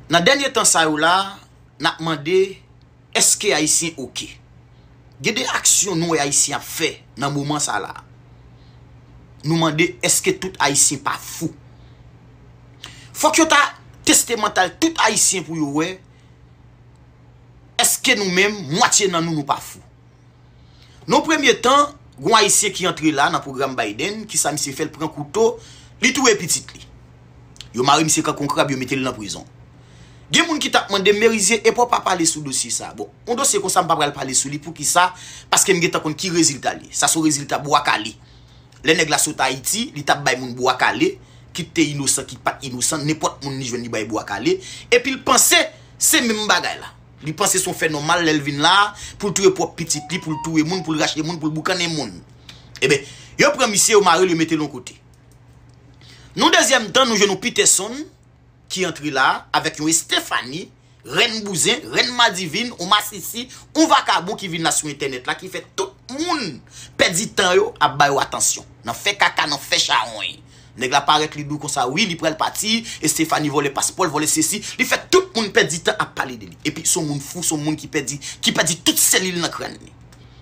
Nan dènye tan sa yo la, n ap mande, èske Ayisyen ok? Gen de aksyon nou wè Ayisyen ap fè nan moman sa la. Nou mande, èske tout Ayisyen pa fou? Fòk yo ta teste mantal tout Ayisyen pou yo wè, èske nou menm, mwatye nan nou, nou pa fou? Non premye tan, gon ayisyen ki antre la nan pwogram Biden, kisa misye fè l pran kouto, li touye pitit li. Yo mare misye kan kon krab yo mete l nan prizon. Gen moun ki tap mande m Merizier epè w pa pale sou dosye sa. Bon, yon dosye konsa m pa pral pale sou li poukisa, paske m gentan konn ki rezilta l ye. Sa son rezilta bwa kale. Lè nèg la sot Ayiti, li tap bay moun bwa kale, kit te inosan kit pat inosan, nenpòt moun li jwenn li bay bwa kale, epi l panse se menm bagay la. Li panse son fè nòmal lèl vin la poul touye pwòp pitit li poul touye moun poul rache moun poul boukannen moun eben yo pran misye yo marel yo metel yon kote nou dezyèm tan nou jwenn yon pitèson ki antre la avèk yon estefani rèn bouzen rèn madivin yon masisi yon vakabon ki vin la sou entènèt la ki fè tout moun pèdi tan yo ap bayo atansyon nan fè kaka nan fè chawony. Nèg la parèt li dou konsa wi li pral pati Estephanie vòlè paspòl vòlè sesi li fè tout moun pèdi tan ap pale de li epi son moun fou son moun ki pèdi ki pèdi tout selil nan kràn li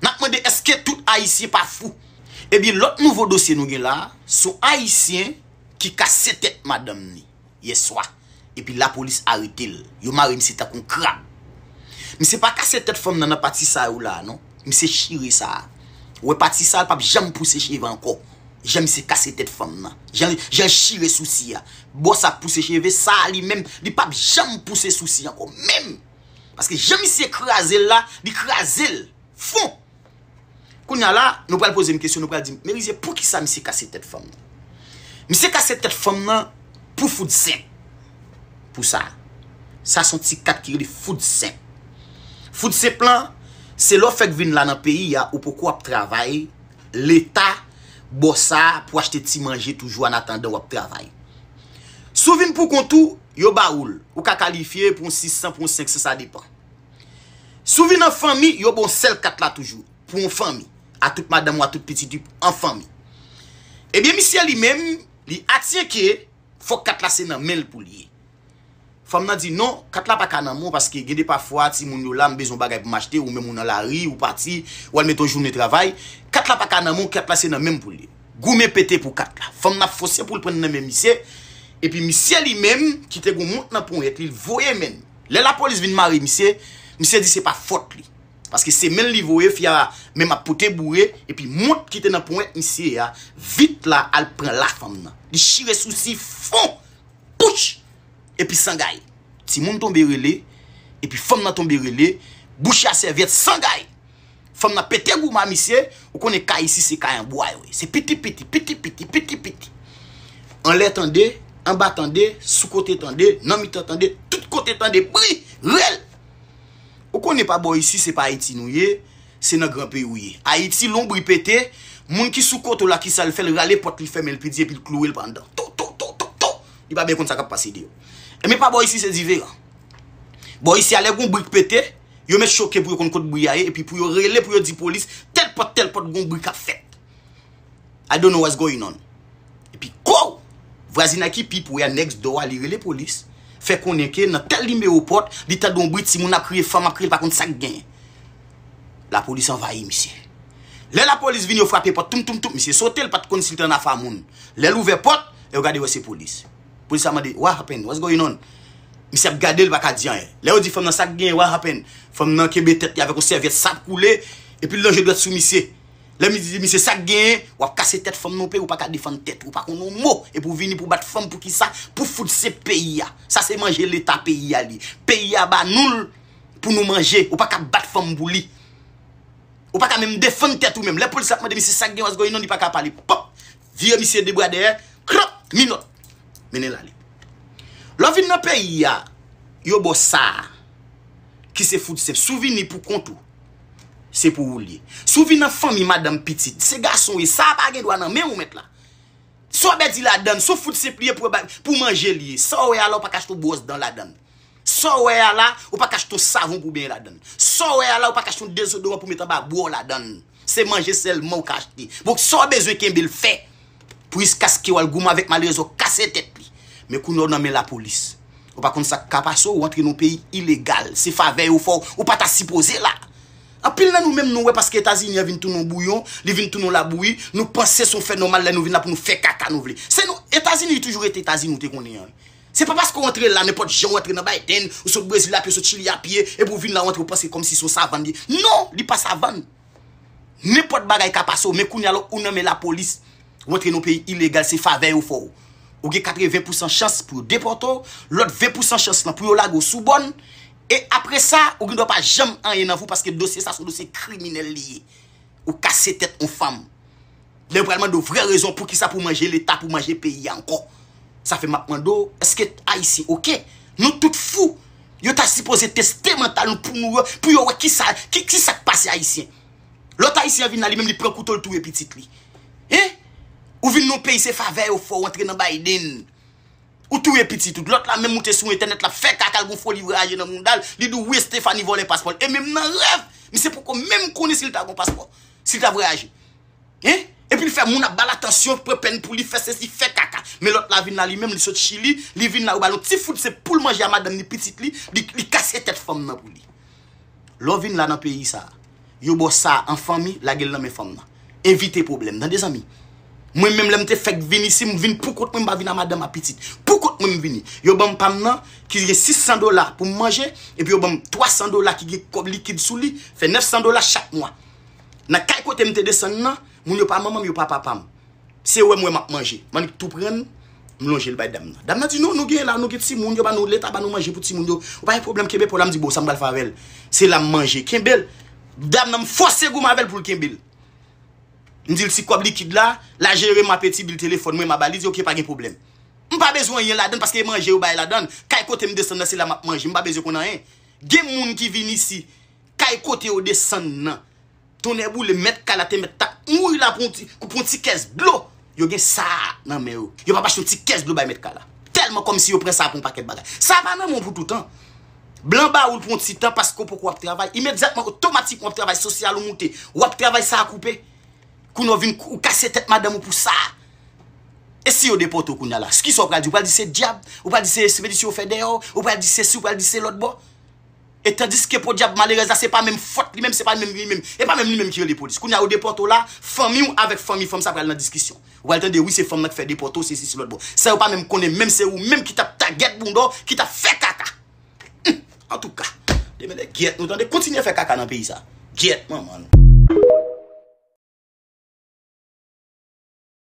nap mande eske tout ayisyen pa fou ebyen lòt nouvo dosye nou gen la son ayisyen ki kase tèt madanm li yè swa epi lapolis arete l yo mare misye tankou yon krab misye pa kase tèt fanm nan nan pati sa yo la non misye chire sa ou wè pati sa l pap janm pouse cheve ankò jan misye kase tèt fanm nan jan jan l chire sousi a bò sa k pouse cheve sa a li menm li pap janm pouse sousi ankò menm paske jan misye kraze l la li kraze l fon. Kounya la, nou pral poze m kesyon, nou pral di m, Merizier, poukisa misye kase tèt fanm nan? Misye kase tèt fanm nan pou fout senp. Pou sa. Sa son ti kat ki rele fout senp. Fout senp lan, se lè w fèk vin la nan peyi a, ou poko ap travay, Leta ba w sa pou achte ti manje toujou anatandan w ap travay. Si w vin pou kont ou, yo ba ou l. Ou ka kalifye pou yon 600, pou yon 500, sa depan. Si w vin an fanmi, yo ba w sèl kat la toujou, pou yon fanmi, a tout madanm ou a tout pitit ou, an fanmi. Ebyen misye li menm, li atyen ke fòk kat la se nan men l pou l ye. Fanm nan di non, kat la pa ka nan men w paske gen de pafwa timoun yo la, m bezwen yon bagay pou m achte, ou menm ou nan lari, ou pati, ou al mete yon jounen travay, kat la pa ka nan men w, kat la se nan men m pou l ye. Goumen pete pou kat la. Fanm nan fose pou l pran nan men misye, epi misye li menm, ki te gen yon mont nan ponyèt li, l voye men l. Lè lapolis vin mare misye, misye di se pa fòt li. Paske se men l li voye fi a menm ap pote boure epi mont ki te nan ponyèt misye a vit la al pran la fanm nan. Li chire sousi fon pouch! Epi sangay. Timoun tonbe rele epi fanm nan tonbe rele bouch a sèvyèt sangay! Fanm nan pete gouman misye, ou konnen kay isi se kay an bwa yo ye. Se piti piti, piti piti, piti piti. Anlè tande, anba tande, sou kote tande, nan mitan tande, tout kote tande bri, rèl. Ou konnen pa bò isi se pa Ayiti nou ye, se nan gran peyi ou ye. Ayiti lon bri pete, moun ki sou kote w la kisa l fè l rale pòt li fèmen l pi di epi l klouwe l pa anndan. Tou tou tou tou tou. Li pa byen konn sa k ap pase deyò. Enben pa bò isi se diferan. Bò isi a lè gon bri k pete. Yo met choke pou yo konn kot bri a ye epi pou yo rele pou yo di polis tèl pòt tèl pòt gon bri kap fèt. I don't know what's going on. Epi kouw! Vwazinay ki pi pre a next door a li rele polis, fè konnen ke nan tèl nimewo pòt li tande yon bri timoun ap kriye, fanm ap kriye li pa konn sak gen. Lapolis anvayi misye. Lè lapolis vini yo frape pòt toum toum toum misye sote li pat konn si li te nan afa moun. Lè l ouvè pòt, lè yo gade yo wè se polis. Polis la mande, What happened? What's going on? Misye ap gade l, li pa ka di anyen. Lè yo di fanm nan, Sa k genyen? What happened? Fanm nan kenbe tèt li avèk yon sèvyèt, sa ap koule, epi l lonje dwèt sou misye. Lè misye di misye, Sa k genyen? W ap kase tèt fanm nan w peyi, w pa ka defann tèt ou, w pa konn yon mo, epi w vini pou w bat fanm pou kisa? Pou fout se peyi a. Sa se manje leta peyi a li. Peyi a ba nou l pou nou manje. Ou pa ka bat fanm pou li. Ou pa ka menm defann tèt ou menm. Lè polis la ap mande misye, Sa k genyen? What's going on? Li pa ka pale. Pop! Vire misye de bwa dèyè krop minòt mennen l ale. Lè w vin nan peyi a yo ba w sa a ki se fout senp. Si w vini pou kont ou se pou ou l ye. Si w vin an fanmi madanm pitit se gason w ye sa a pa gen dwa nan men w mèt la. Sa w bèdi ladan l se w fout senp li ye pou w manje l ye. Sa w wè a la w pa ka chita w bwòs dan ladan l. Sa w wè a la, ou pa ka achte yon savon pou w benyen ladan l. Sa w wè a la, ou pa ka achte yon dezodoran pou w met anba bra w ladan l. Se manje sèlman ou ka achte. Donk, sa w bezwen kenbe l fè pou jiskaske w al goumen avèk malerèze w kase tèt li. Men kounye a w nan men lapolis. Ou pa konn sa k ka pase w, ou antre nan yon peyi ilegal. Se favè yo fè w, ou pa ta sipoze la. Anpil nan nou menm nou wè paske Etazini an vin tounen yon bouyon, li vin tounen yon labouyi, nou panse se yon fè nòmal lè nou vin la pou nou fè kaka nou vle. Se nou, Etazini toujou rete Etazini ou te konnen an wi. Se pa paske w antre la nenpòt jan w antre nan Biden, ou sot Brezil apye, ou sot Chili apye, epi ou vin la ou antre ou panse kòmsi se yon savann li. Non, li pa savann. Nenpòt bagay ka pase w men kounye a ou nan men lapolis, ou antre nan yon peyi ilegal se favè yo fè w. Ou gen 80 pousan chans pou yo depòte w, lòt 20 pousan chans lan pou yo lage w sou bòn, e apre sa ou gen dwa pa janm anyen nan vi w paske dosye sa se yon dosye kriminèl li ye. Ou kase tèt yon fanm. Lè yo pral mande w vrè rezon poukisa pou w manje leta, pou w manje peyi a ankò. Sa fè m ap mande w, èske Ayisyen ok? Nou tout fou! Yo ta sipoze teste mantal nou pou nou wè, pou yo wè ki sa, ki ki sa k pase Ayisyen. Lòt Ayisyen an vin la li menm li pran kouto l touye pitit li. Hein? Ou vin nan yon peyi se favè yo fè w antre nan Biden. Ou touye pitit ou. Lòt la menm moute sou entènèt l ap fè kaka l gen yon foli vraje nan mouda l, li di w wi Estephanie vòlè paspò l. E menm nan rèv misye poko menm konnen si l ta gen yon paspò, si l ta vwayaje. Hein Epil fè moun ap bal atansyon pran pèn pouli fè sesi fè kaka men lòt la vin la li menm li sot chili li vin la yo bal yon ti fout se poul manje a madanm ni pitit li li kase tèt fanm nan pou li lè w vin la nan peyi sa yo baw sa an fanmi lagel nan men fanm nan evite pwoblèm tande zanmi mwen menm lèm te fèk vin isi m vin poukont mwen m pa vin a madanm a pitit poukont mwen m vini yo banm pam nan ki gen 600 dola poum manje epi yo banm 300 dola ki gen kòb likid sou li fè 900 dola chak mwa. Nan kay kote m te desann nan, moun yo pa manman m, yo pa papa m. Se wè m wè m ap manje. M annik tou pran, m lonje l bay dam nan. Dam nan di, non, nou genyen la, nou gen timoun, yo ba nou, leta ba nou manje pou timoun yo. Ou pa gen pwoblèm, kenbe po w la. M di, bon, sa m pral fè avè l? Se la m manje. Kenbe l. Dam nan, m fòse goumen avè l pou l kenbe l. M di l ti kòb likid la, la jere m ape ti bil telefòn mwen, m a ba li. Li di, ok, pa gen pwoblèm. M pa bezwen anyen ladann paske e manje yo bay ladann. Kay kote m desann nan, se la m ap manje. M pa bezwen konn anyen. Gen moun ki vin isi. kay kote yo desann nan. Tonnèboule mèt kay la te mèt ta mouri la pou yon ti kès dlo. Yo gen sa a nan men yo. Yo pa pa achte yon ti kès dlo bay mèt kay la. Tèlman kòm si yo pran sa pou yon pakèt bagay. Sa a pa nan men w pou toutan. Blan ba ou l pou yon ti tan paske ou poko ap travay. Imedyatman, otomatikman w ap travay sosyal ou moute. W ap travay sa a koupe. Kounye a w vin ou kase tèt madanm ou pou sa a. E si yo depòte w kounye a la? Kisa w pral di? Ou pral di se dyab? Ou pral di se espedisyon yo fè dèyè w? Ou pral di sesi, ou pral di se lòtbò? E tandiske podyab malerèz la se pa menm fòt li menm, se pa menm li menm, e pa menm li menm ki rele polis. Kounye a yo depòte w la, fanmi w avèk fanmi fanm sa pral nan diskisyon. Ou pral tande wi se fanm lan ki fè depòte w sesi si lòt bon. San yo pa menm konnen menm se ou menm ki t ap tagèt bounda w, ki t ap fè kaka. Hum! Antouka! Demède gyèt nou tande, kontinye fè kaka nan peyi sa. Gyèt manman nou.